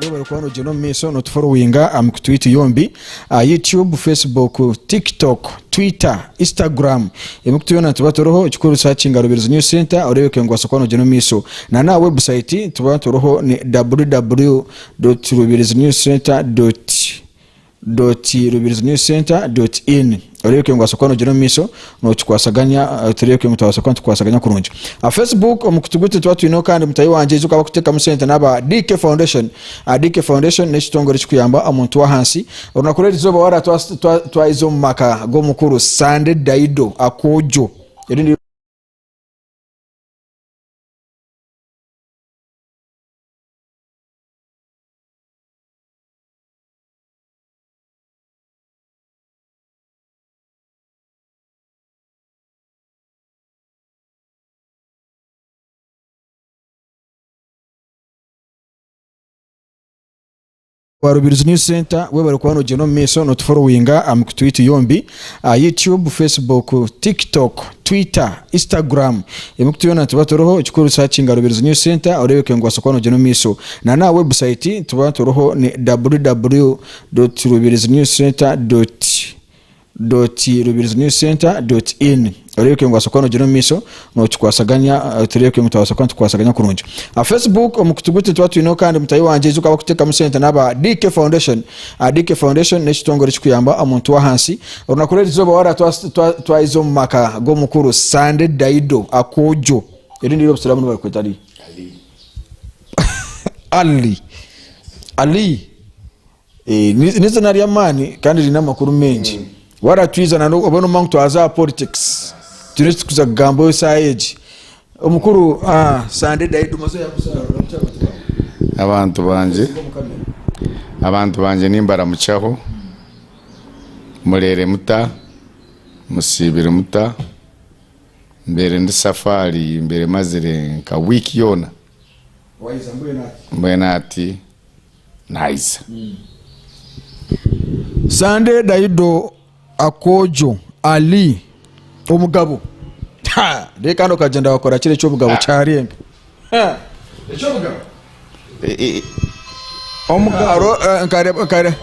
webare kuba nogyenda omu maisho notuforowinga aha mikutu yaitu yombi aha youtube facebook tiktok twitter instagram emikutu yoona nituba turiho ekikuru sakinga harubirizi news center oreebeke ngu waasa kuba nogyenda omu maisho na n'aha website nituba turiho ni www rubirizi news center dot rubirizi news centre dot in oreebeke ngu noobaasa kuba noogira omu maisho nookikwasaganya eh, tureebeke ngu twabaasa kuba nitukwasaganya kurungi aha facebook omu kutuguta nituba twineho kandi mutahi wangye aija okaba kuteekamu sente n'aba DK Foundation Ah, DK Foundation n'ekitongore ekikuyamba omuntu w'ahansi orunaku rw'erizooba waaba twa- twa- twaize omu maka g'omukuru Sande Daido Akojo erindi Rubirizi News Centre webare kuba nogyenda omu maisho notuforowinga aha mikutu yaitu yombi. Aha YouTube, Facebook, TikTok, Twitter, Instagram, ebi kutuyona nituba turiho. Ekikuru nitushaba Kinga Rubirizi News Centre oreebeke ngu waasa kuba noogyenda omu maisho. Na n'aha website nituba turiho ni www.rubirizinewscentre. Rubirizinewscentre. In. Orebeke ngu asoboka nogira omumaisho nokikwasaganya turebeke ngu twabaasa kuba nitukwasaganya kurungi. Aha Facebook omu kutu gutu nituba twineho kandi mutahi wangye aija okaba kutekamu sente naba DK Foundation. DK Foundation nekitongore ekikuyamba omuntu wahansi. Orunaku rwerizoba wara twayiza omu maka gomukuru Sande Daido Akojo erindi eri obusiramu nibarikweta riha? Ali Ali. Eeh ni n'izina ry'amaani kandi riine amakuru maingi. Wara twiza na n'obu oba nomanya ngu twaza aha politics twine eki turikuza kugambaho esaaha egi. Omukuru aah Sande Daido maze oyakuzaarwa oramukye abantu baawe. Abantu bangye Omu camera. abantu bangye nimbaramukyaho, mureere muta, musiibire muta, mbaire ndi safaari mbaire mazire nka week yoona Wayeza mbwenu ati. mbwenu ati. Naiza. Sunday Daido Akojo Ali omugabo Ha! Naye kandi okagyenda wakora kiri eky'obugabo kyarenga Ha! eky'obugabo Eh, eh, omugabo Aro, eh, nkare- nkare-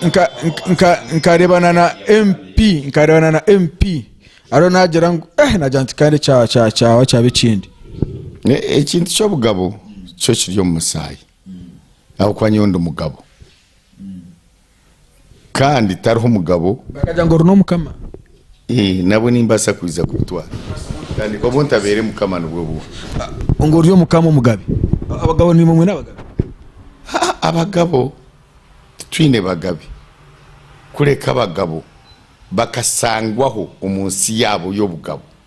nka- nka- nka- nkarebana na mp nkarebana na mp ariyo nagira ngu eh nagira nti kandi kya- kya- kyawa kyaba ekindi Eh, ekintu ky'obugabo kyo kiri omu musaayi ahabw'okuba nyowe ndi mugabo, kandi tariho mugabo. Bakagira ngu ori n'omukama. Ee, nabwo nimbaasa kwija kubitwara, kandi obu ntabaire mukama nibwo bubi. Ngu ori omukama omugabe. Abagabo nimwe mwine abagabe? Haa, abagabo titwine bagabe, kureka abagabo bakasangwaho omu nsi yaabo y'obugabo.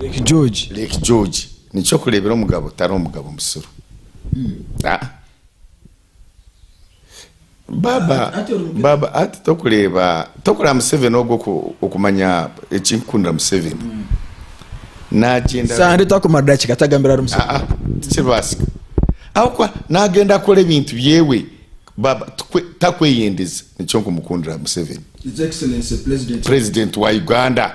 Lake George. Lake George nikyokureebera omugabo tari omugabo musiru aa baaba baaba hati tokureeba tokureeba museveni ogwo oku okumanya ekinkukundira museveni nagyenda Sande takumara dakiika atagambire ahari Museveni. aa tikiribaasika ahabwokuba nagyenda akora ebintu byewe baaba tukwe takweyendeza nikyo nkumukundira museveni His Excellency President. president wa Uganda.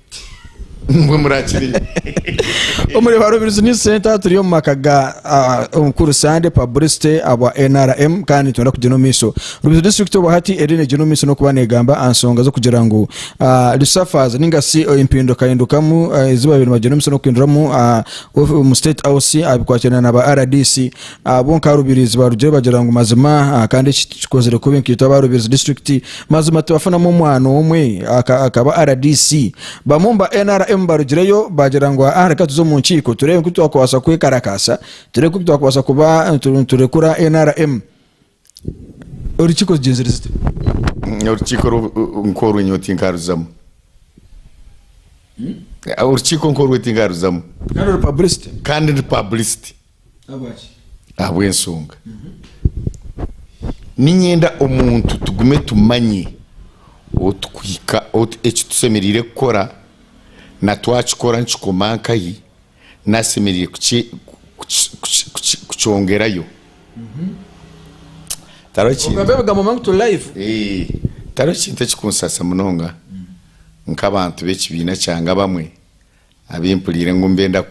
Mbwe murakire. Omuri ba Rubirizi News Centre turi omu maka ga ah, omukuru Sande Publicity abwa NRM kandi nitwenda kugyenda omu maiso. Rubirizi District obwa hati eri negyenda omu maiso n'okuba negamba aha nsonga z'okugira ngu ah, resuffers ninga si eh, empindukahindukamu ah, ezibaire nibagyenda omu maiso n'okuhinduramu ah, of- omu State House ah, bikwatirana na ba RDC. Abo nka Rubirizi barugire bagira ngu mazima kandi eki tukikozire kubi nkaitwe aba Rubirizi disiturikiti mazima tubafunamu omwana omwe akaba rdc. Bamwe omu ba nrm barugireyo bagira ngu aa reka tuze omu nkiiko tureebe nkutwakubaasa kwekarakaasa tureebe nkutwakubaasa kuba niturekura nrm. Orukiiko rugyenzire zite? Orukiiko nk'orwe nyowe tinkaruzamu. Orukiiko nk'orwe tinkaruzamu. Kandi ori publicity? Kandi ndi publicity. Ahabwaki? Ahabw'ensonga, niinyenda omuntu tugume tumanye ou turikuhika, ou, eki tusemeriire kukora, na twakikora nikikoma nkahi, Nasemerire kukyongerayo. Tariho kintu ekikunsaasa munonga nk'abantu b'ekibiina kyange abamwe abu mpuriire ngu nibenda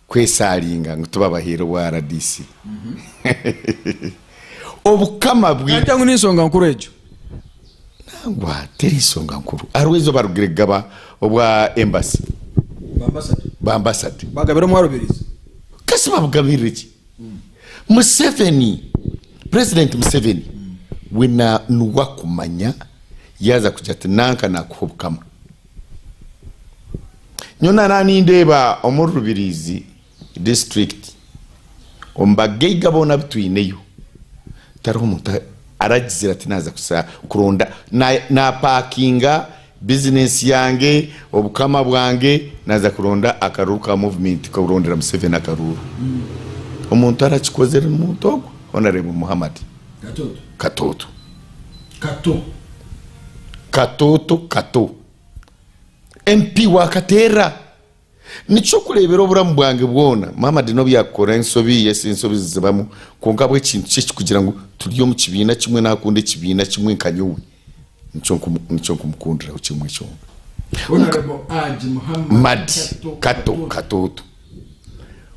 kwesaaringa ngu tubabaheere obwa rdc. Obukama bwe. Nantya ngu ni nsonga nkuru egyo. Nangwa teri nsonga nkuru. Hariho eizooba arugire kugaba obwa Embassy. Bwa Ambassador. Bwa Ambassador. Bagabira omu Arubirizi. Kasi babugabirire ki? Museveni, President Museveni we na nuwe akumanya yaaza kugira ati nanka nakuha obukama. Nyowe nara nindeeba omuri Rubirizi. Disiturikiti. Omu bagaiga boona abu twineyo, tariho omuntu aragizire ati naaza kuza kuronda, naapaakinga bizinensi yange, obukama bwange, naaza kuronda akaruuru ka muvumenti kurondera Museveni akaruuru. Omuntu arakikozire n'omuntu ogwo, Honourable Muhammad Katooto. Kato. Katooto Kato. MP wa Kateerra. Nikyo kureebera oburamu bwange bwona. Maama Dino byakukora ensobi ye si nsobi zizibamu kwonka ahabw'ekintu kye ekikugira ngu turi omu kibiina kimwe nakunda ekibiina kimwe nka nyowe nikyo nkumukundiraho kimwe kyonka. Mad. Kato Katoto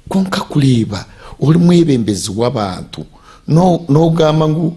Kwonka kureeba ori mwebembezi w'abantu n'ogamba ngu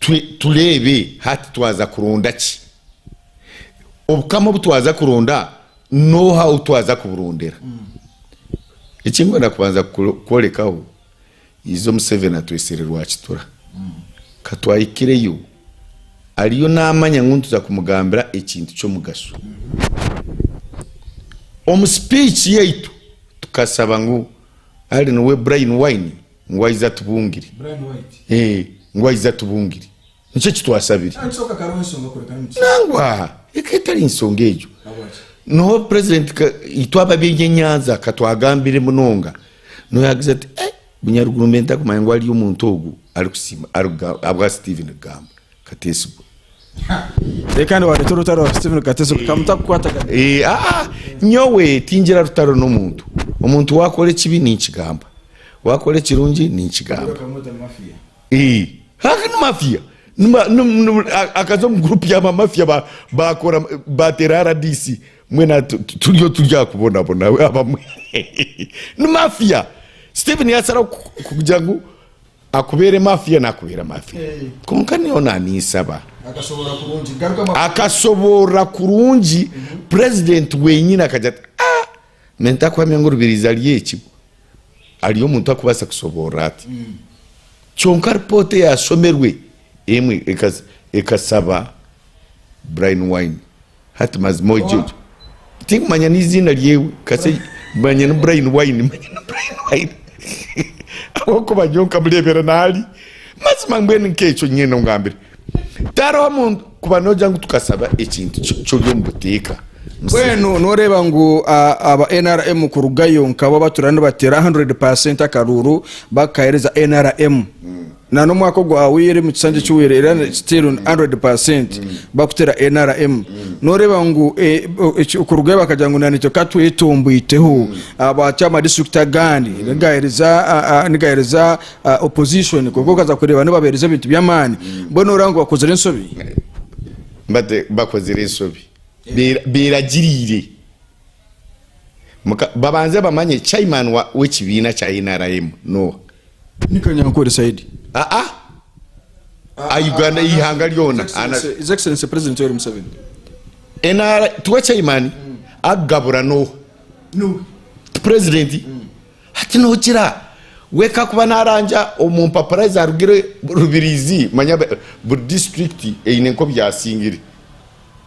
Twe tureebe hati twaza kuronda ki? Obukama obu twaza kuronda n'oha ou twaza kuburondera? Eki ndikwenda kubanza kukworekaho, Izo Museveni atwesire Rwakitura. Ka twahikireyo, ariyo naamanya ngu nituza kumugambira ekintu ky'omugasho. Omu sipiici yaitu tukashaba ngu, Ari niwe Brain Wine? Ngu aize atubungire. Eeh, ngu aize atubungire. Nikyo eki twasabire. Nangwa! Eka etari nsonga egyo. Noho President ka, itwe ab'aby'ebyenyanza ka twagambire munonga. Noho yaagize ati, Eeh, Munyaruguru mbe ntakumanya ngu hariyo omuntu ogu arikusiima, arikuga, ahabwa Steven kugamba. Kateesigo. Reero kandi waareeta orutaro aha Stephen Kateesigo ka mutakukwata ka. Eh, ah, ah, nyowe tingira rutaro n'omuntu. Omuntu waakora ekibi ninkigamba. Waakora ekirungi ninkigamba. Bakamuta mafiya. Eh, haha ni mafiya. Ni ma- ni- ni- a- akaza omu gurupu ya bamafiya ba- baakora baateera RDC. Mbwenu tu- tu- turiyo turi aha kubonabona abamwe. Ni mafiya. Stephen yaasara ku- kugira ngu Akubeere mafiya nakubeera mafiya kwonka nyowe naninsaba akasoborora kurungi president wenyini akagira ati aah me ntakuhamya ngu rubirizi ari eki bwe ari omuntu arikubaasa kusoborora ati kyonka report eyasomerwe emwe ekasaba Brian wine Hati mazima ogye ogye tinkumanya neiziina ryewe kase manya ni Brian wine manya ni Brian wine ahabwokuba nyowe nkamurebera nahali mazima mbwenu nkekyo nyine ongambire tariho muntu kuba nogira ngu tukasaba ekintu kiri omu buteeka mbwenu noreba ngu aba nrm kurugayo nkabo abaturira nibatera 100 percent akaruuru bakahereza nrm. Na n'omwaka ogu ahaweire mu kisanja ekiweire era still on hundred percent bakutera nrm noreba ngu okurugayo bakagira ngu na itwe katwetomboiteho aba chairman district agandi nigahereza nigahereza opposition kwonka okaza kureba nibabahereza ebintu by'amaani mbwenu noreba ngu bakozire ensobi? Bakozire ensobi beiragiriire. Muka, babanze bamanye chairman wa, w'ekibiina kya nrm n'oha. Ni kanyankore said. Ah ah! A Uganda, a ihanga ryona. A na. His Excellency President Yoweri Museveni. NR, tiwe chairman? A Gabura n'oha? Nuwe. Ti president? Hati nogira we kakuba narangya omu mpapura ezarugire Rubirizi, manya buri district eine nk'obu yasingire.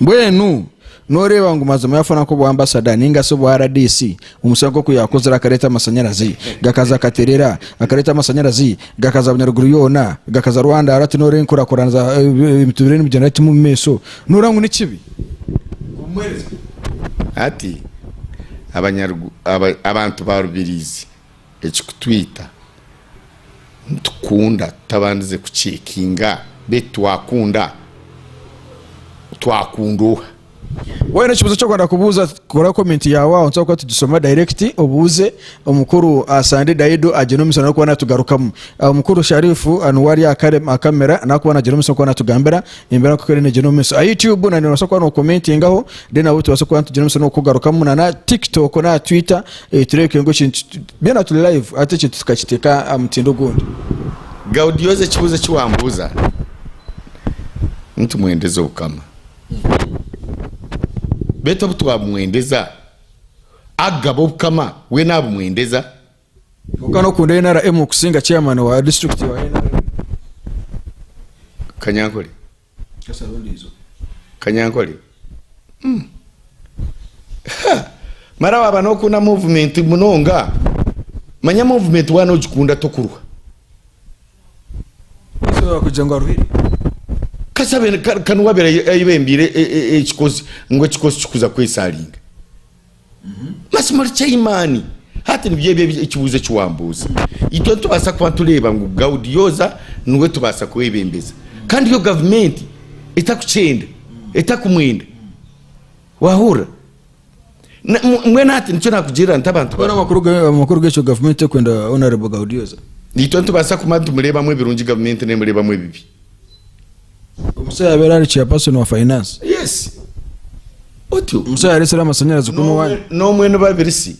Mbwenu noreeba ngu mazima yafuna nk'obwa ambasada ninga shi obwa RDC omu kishaayi nk'oku yakozire akareeta amashanyarazi gakaza akaterera akareeta amashanyarazi gakaza bunyaruguru yoona gakaza Rwanda hati noreeba enkurakurana za emituuriire nibigyenda biti omu maisho noreeba ngu nikibi omuheereza? Hati abantu ba Rubirizi Ekikutwita, nitukunda tutabandize kucekinga beitu twakunda twakunda oha. Waayine ekibuuzo ky'okwenda kubuuza kora komenti yaawe aho nitubaasa kuba nitugisoma dayirekiti obuuze omukuru Sande Daido agyine omutsyo n'arikuba naatugarukamu. Omukuru Sharifu niwe ari aha kamera n'arikuba naagira omutsyo n'okuba naatugambira embeera nk'oku eriyo neegyenda omu maisho. Aha Yutubu nayo noobaasa kuba nookomentingaho reero nabwo tubaase kuba nitugira omutsyo n'okukugarukamu na Tikitooko na Twita. Tureke ngu ekintu byona turi live hati ekintu tukakiteeka aha mutindo ogundi. Gaudioza ekibuuzo eki wambuuza nitumwendeza obukama beitu obu twabumwendeza akugaba obukama we nabumwendeza? Kwonka nokunda nrm kusinga chairman wa district wa nrm. Kanyankore. Kasara ondiijo. Kanyankore, Uhm! Ha! Mara waaba n'okunda movement munonga, manya movement waaba n'ogikunda tokurwa. Ese waaba kugira ngu aruhire? Kasabe ka ka niwe abeire ayi ayebembeire e e ekikozi ngu ekikozi kikuza kwesaringa. Mazima ori kyaimani. Hati nibyo ebi ekibuzo eki wambuuza. Itwe nitubaasa kuba nitureeba ngu Gaudi yooza niwe tubaasa kwebembeza kandi yo gavumenti etakukyenda, etakumwenda. Wahurira? Na mbwenu hati nikyo naakugirira nta abantu Mbwenu bamwe? amakuru ga- amakuru g'ekyo gavumenti tekwenda honorable gaudioza Itwe nitubaasa kuba nitumureebamu ebirungi gavumenti neemureebamu ebibi. Omusaija yaabaire ari chairperson wa finance. Yes. Otyo. Omusaija yaareetsire amashanyarazi kunu N'omwe- waaya. N'omwe ni babiri si.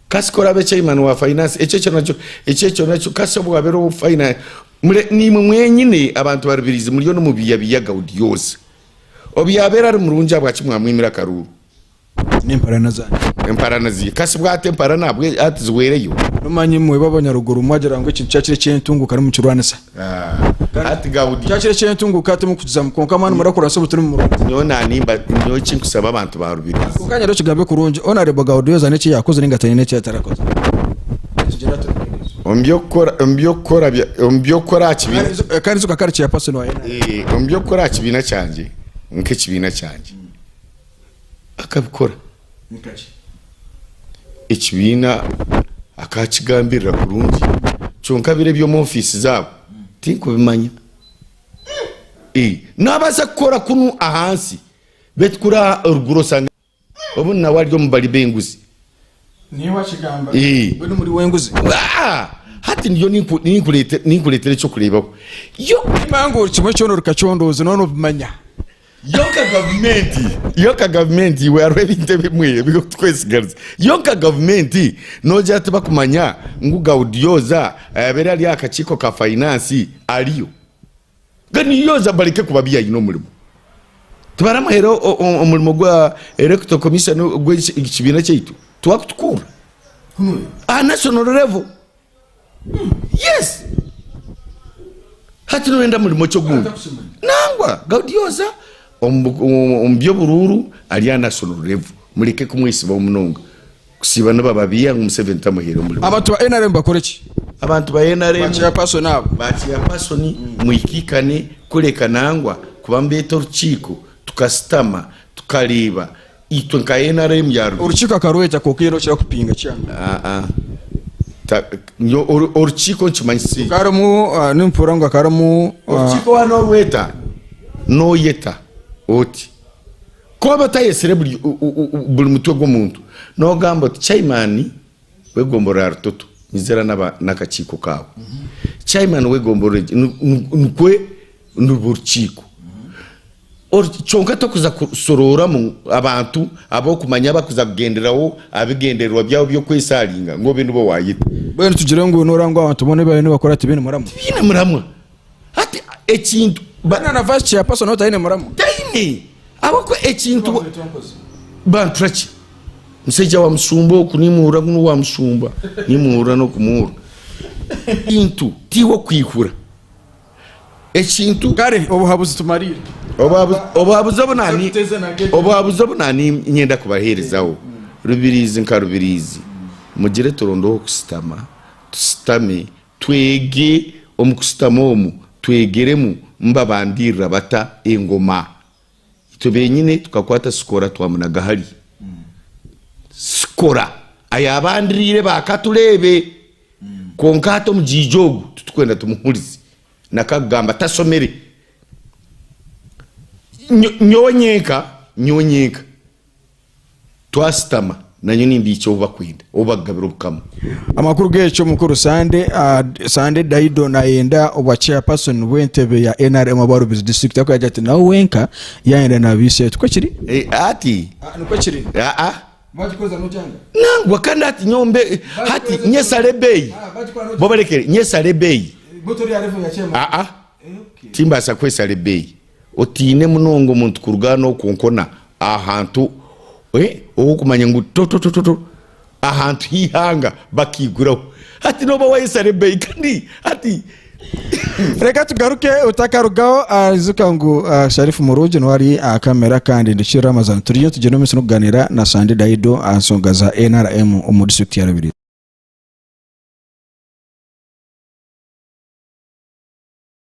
Kasi ku oraabe chairman wa finance, ekyo ekyo nakyo, ekyo ekyo nakyo, kasi obu waabaire owa finance. Mure- Niimwe mwenyine abantu barubirizi muriyo nimubiiyabiiya Gaudiosa. Obu yaabaire ari murungi ahabwaki mwamwimire akaruuru? n'emparana zangye. Emparana zi ka si bwati emparana bwe ati ziwereyo. N'omanyi mweba abanyaruguru mwagira ngu ekintu kyakira ekyentunguka nimukirwanisa. Ah, ati Gaudi. Kyakira ekyentunguka hati mukukizamu kwonka mani murakurasa obu turi mu murundi. Nyowe nanimba nyowe ekinkusaba abantu ba Rubirizi. Kwonka nyera okigambe kurungi, Honourable Gaudioza n'eki yakoze ninga taine n'eki atarakoze. Tugira tuti Rubirizi. Omu by'okukora omu by'okukora bya omu by'okukora aha kibiina. Kandi izo- eh, kandi izo kakare chairperson wa NRM. Eh, omu by'okukora aha kibiina kyangye nk'ekibiina kyangye. akabikora. Ekibiina akaakigambirira kurungi, kyonka biri eby'omu ofiisi zaabo tinkubimanya. Naabaasa kukora kunu ahansi beitu kuri eruguru oshange obundi nawe ari omu bari b'enguzi. Hati ndiyo ninkureetera eky'okureebaho. Yonka gavumenti, yonka gavumenti, iwe hariho ebintu ebimwe ebirikutukwesigariza. Yonka gavumenti noogira tibakumanya ngu Gaudioza ayabaire ari aha kakiiko ka fainansi ariyo. Gaudioza bareke kuba bi aine omurimo. Tibaramuhera omurimo gwa electoral commission gwekibiina kyaitu? Tiwakutukurra aha national level. yes hati noyenda murimo ki ogundi nangwa gaudioza omu by'oburuuru ari aha national level mureke kumwesibaho munonga kusiiba nibo ababiiha ngu museveni tamuhaire omurimo Abantu ba nrm bakore ki? abantu ba nrm Ba chairperson abo. ba chairperson mwihikaikane kureka nangwa kuba nibeeta orukiiko tukasitama tukareeba itwe nka nrm ya Rubega. Orukiiko akarweta kwonka haine okukira kupinga chairman. Orukiiko nikimanyisa eki? Nimpuura ngu hakarimu. Orukiiko waaba norweta noyeta oti? Ku waaba otayetsire buri mutwe gw'omuntu nogamba oti chairman w'egomborora ya Rutoto nyiza era n'akakiiko kaawe, chairman w'egomborora egi nikwo nirwo rukiiko. Kyonka tokuza kusorooramu abantu ab'okumanya abakuza kugendereraho aha bigendererwa byabo by'okwesharinga ngu obe nibo waayeta. Mbwenu tugire ngu nooraha ngu abantu boona ebi bariyo nibakora tibaine muramwa? Tibaine muramwa. Hati ekintu. Mbwenu naava aha chairperson otaine muramwa? Taine. Ahabw'okuba ekintu. Bantura ki? Mushaija wa mushumba oku nimuhurira ngu n'owa mushumba. Nimuhurira n'okumuhurira. Ekintu tiwe okwihura. ekintu. Kare obuhabuzi tumariire. Obuhabuzi obu nani, obuhabuzi obu nani nyenda kubaherezaho, Rubiriizi nka Rubiriizi, mugire turondeho kusitama, tusitame, twege omu kusitama omu twegeremu mbabandiirira bata engoma. Itwe benyine tukakwata Sikora twamunaga hali. Sikora ayaba andiriire ba ka tureebe. Kwonka hati omujaija ogu titukwenda tumuhurize. Naka kugamba tasomire. Nyowe nyenka, nyowe nyenka Twashutama, nanye nimbiikya obu bakwenda, obu bakugabira Obukama. Amakuru g'ekyo, Omukuru Sande Sande Daido nayenda obwa Chairperson bw'entebe ya nrm obwa Rubirizi District arikugira ati ati nawe wenka yayenda naba ise. Tikwo kiri? Hati, Aa, nikwo kiri. aa, Bagikoza nokyanga? nangwa kandi hati nyowe mbe, hati nyesara ebeeyi, Aa, bagikora nokyanga? bo barekere nyesara ebeeyi, Bo tori aha level ya Chairman? aa, Eh, okay. timbaasa kwesara ebeeyi. Otiine munonga omuntu kuruga n'oku konkona aha hantu ohu okumanya ngu to-to-to-to-to, ahantu h'eihanga bakaiguraho. Hati nooba waayesara ebeeyi kandi hati. Reka tugaruke otakarugaho. Aijuka ngu Sharif murungi niwe ari aha kamera kandi ndi Ramazan. Turiyo nitugyenda omu maisho n'okugaaniira na Sandi Daido aha nshonga za nrm omu disiturikiti ya Rubirizi.